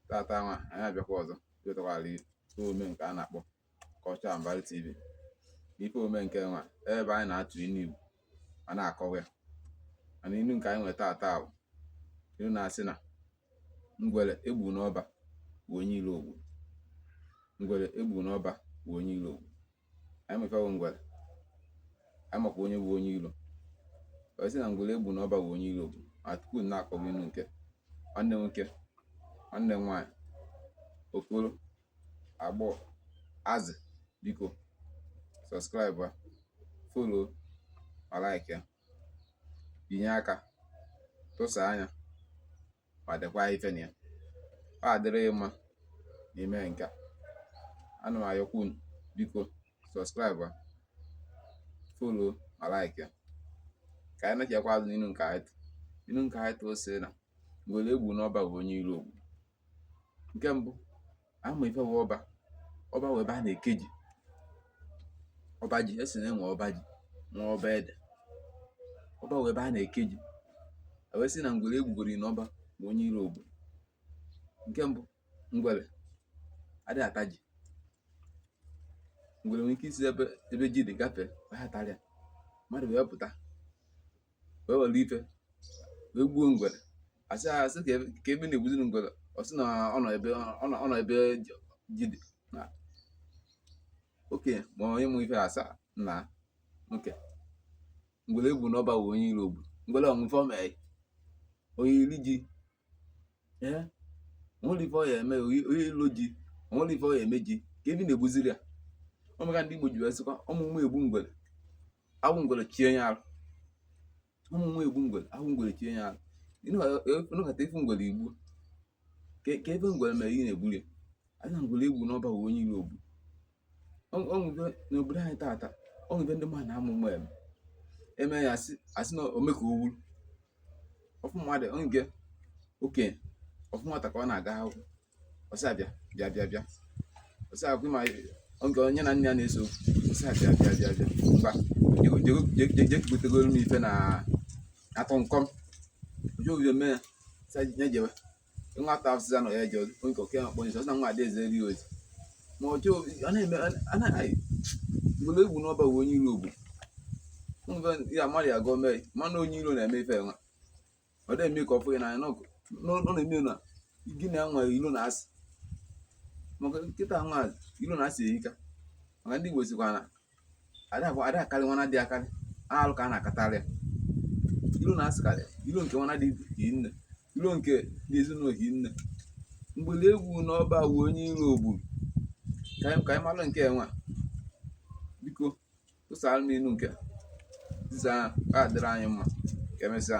tata nwa anyị abịakwa ọzọ wetakwara ihe omume nke a na-akpọ Culture and Value TV ife omume nke nwa ebe anyị na-atụ inu Igbo ma na-akọwa ya mana inu nke anyị nwere tata bụ inu na-asị na ngwere egbu n'ọba bụ onye ilo ogbu ngwere egbu n'ọba bụ onye ilo ogbu anyị ma ife wụ ngwere anyị makwa onye bụ onye ilo wee sị na ngwere egbu na ọba bụ onye ilo ogbu ma tupu na-akọwa inu nke nwanne nwoke nwanne m nwaanyị okoro agbọ azị biko subscribe follow ma like ya binye aka tụsa anya ma dekwa ife na ya adịrị gị mma n'ime nke a ana m ayọkwa unu biko subscribe follow ma like ya ka anyị nachikwa azụ n'inu nke anyị tụ inu nke anyị tụ o sị na ngwere egbu n'ọba bụ onye iro ogbu nke mbụ a ma ife wụ ọba ọba wụ ebe a na-eke ji ọba ji esi na enwe ọba ji nwe ọba ede ọba wụ ebe a na-eke ji wee sị na ngwere egbugoro na ọba bụ onye iro ogbu nke mbụ ngwere adịghị ata ji ngwere nwere ike isi ebe ji dị gafee atarọ ya mmadụ wee pụta wee were ife wee gbuo ngwere a sị a sị kee ife na-egbuziri ngwere ọ sị na ọ nọ ebe ji dị na oke ma onye mụ ife asa na oke ngwere egbu na ọba wụ onye iro ogbu ngwere o nwe ife o me ọ ya eri ji ee o nwere ife ọ ya eme ọ ya elo ji o nwere ife ọ ya eme ji kee ife na-egbuziri ya ọ maka ndị Igbo ji wee sịkwa ọma ụma egbu ngwere awụ ngwere chie ya arụ ọma ụma egbu ngwere awụ ngwere chie ya arụ ị nọkata ị fụ ngwere i gbuo kee ife ngwere mere ị na-egburi ya a sị na ngwere egbu n'ọba onye iro ogbu o nwe ife n'obodo anyị tata o nwe ife ndị mmadụ na-ama ụma eme eme ya a sị na ome ka o wuru ọ fụ mmadụ nke okenye ọ fụ nwata ka ọ na-aga akwụkwọ ọ sị ya bịa bịa bịa bịa ọ sị akwụ ma oge onye na nne ya na-eso ọ sị ya bịa bịa bịa bịa ngwa jegotegoro m ife na atọ nkọm ojo o bido mee ya sị ya jewe nwata afụsịza na ya eji nke oke akpọ nso na nwa adaeze ri ozi ma ọ chọọ ọ na-eme anaghị ngwere egbu n'ọba bụ onye iro ogbu mgbe ya mmadụ ya gọọ mee mana onye iro na-eme ife nwa ọ na-eme ka ọ fụghị n'anya n'ọkụ n'ụlọ ime na gị na nwa ilo na asị maka kịta nwa ilo na asị erika maka ndị Igbo sịkwa na ada bụ ada akarị nwana dị akarị alụ ka a na-akatarị ya ilo na-asịkarị ilo nke nwana dị hinne ilo nke dị ezinụlọ hinne mgbele egwu n'ọba wu onye ilo ogburu ka anyị malụ nke nwa biko tụsara m ilu nke dịza a dịrị anyị mma ka emesịa